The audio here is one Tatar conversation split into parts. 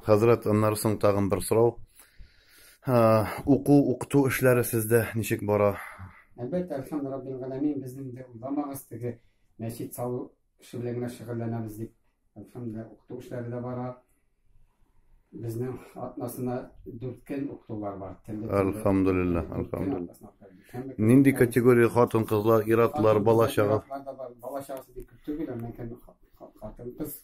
Хәзрәт, аннары соң тагын бер сорау. Уку, укыту эшләре сездә ничек бара? Әлбәттә, Алхамд Раббил Галәмин безнең дә уйламагыз теге мәчет салу эше белән генә шөгыльләнәбез дип. Алхамдулилла, укыту эшләре дә бара. Безнең атнасына дүрткән укытулар бар. Алхамдулилла, алхамдулилла. Нинди категория хатын-кызлар, иратлар, бала-чага? Бала-чагасы бик күп түгел, әмма хатын-кыз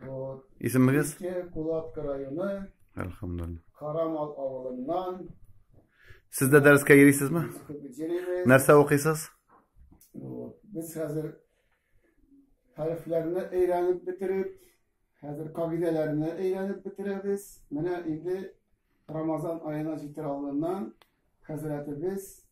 Вот. Исемегез? Иске Кулатка районы. Әлхәмдулилла. Карамал авылыннан. Сез дә дәрескә йөрисезме? Нәрсә укыйсыз? Вот. Без хәзер хәрефләрне өйрәнеп бетереп, хәзер кагыйдәләрне өйрәнеп бетерәбез. Менә инде Рамазан аена җитер алдыннан хәзрәтебез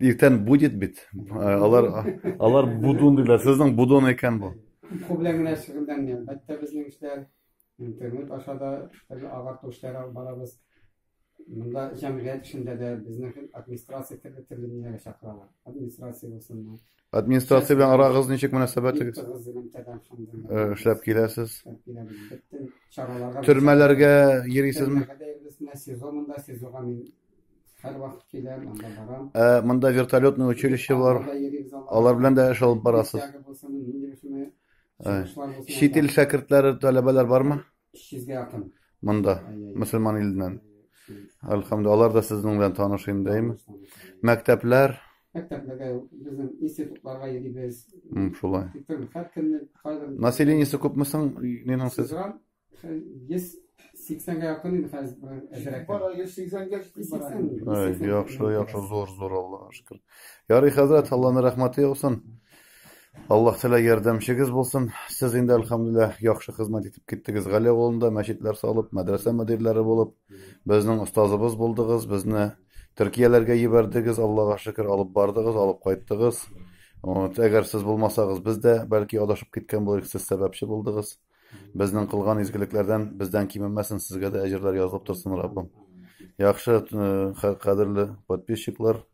Иртән будет бит. Э, алар алар будун диләр. Сезнең будон икән бу. Ку белән генә шөгыльләнгән. Бәттә безнең эшләр интернет аша да төрле агарту эшләре алып барабыз. Монда җәмгыять эшендә дә безнең администрация төрле төрле ниләргә чакыралар. Администрация булсынмы, Администрация белән арагыз ничек мөнәсәбәтегез? Эшләп киләсез. Төрмәләргә йөрисезме? Сезонында сезонга мин һәрвакыт киләм, анда барам. Ә монда вертолетный училище бар. Алар белән дә эш алып барасыз. Чит ил шәкертләре, таләбәләр бармы? 300-гә якын. Монда, мусульман иленнән. Әлхәмдү, алар да сезнең белән таныш инде, әйме? Мәктәпләр? Мәктәпләргә безнең институтларга йөрибез. Шулай. Населениесе күпме соң нинең сез? 180-гә якын инде хәзер әзрәк. Бара 180-гә җитеп Яхшы, яхшы, зур, зур, Аллага шөкер. Ярый, хәзрәт, Алланың рәхмәте яусын. Аллаһ Тәгалә ярдәмчегез булсын. Сез инде альхамдулиллах яхшы хезмәт итеп киттегез. Гали авылында мәчетләр салып, мәдрәсә мөдирләре булып, безнең остазыбыз булдыгыз, безне Төркияләргә җибәрдегез, Аллага шөкер, алып бардыгыз, алып кайттыгыз. Вот, әгәр сез булмасагыз, без дә бәлки адашып киткән булыр, сез сәбәпче булдыгыз. Безнең кылган изгелекләрдән бездән кимемәсен, сезгә дә әҗерләр язылып торсын, Раббым. Яхшы, э, кадерле подписчиклар,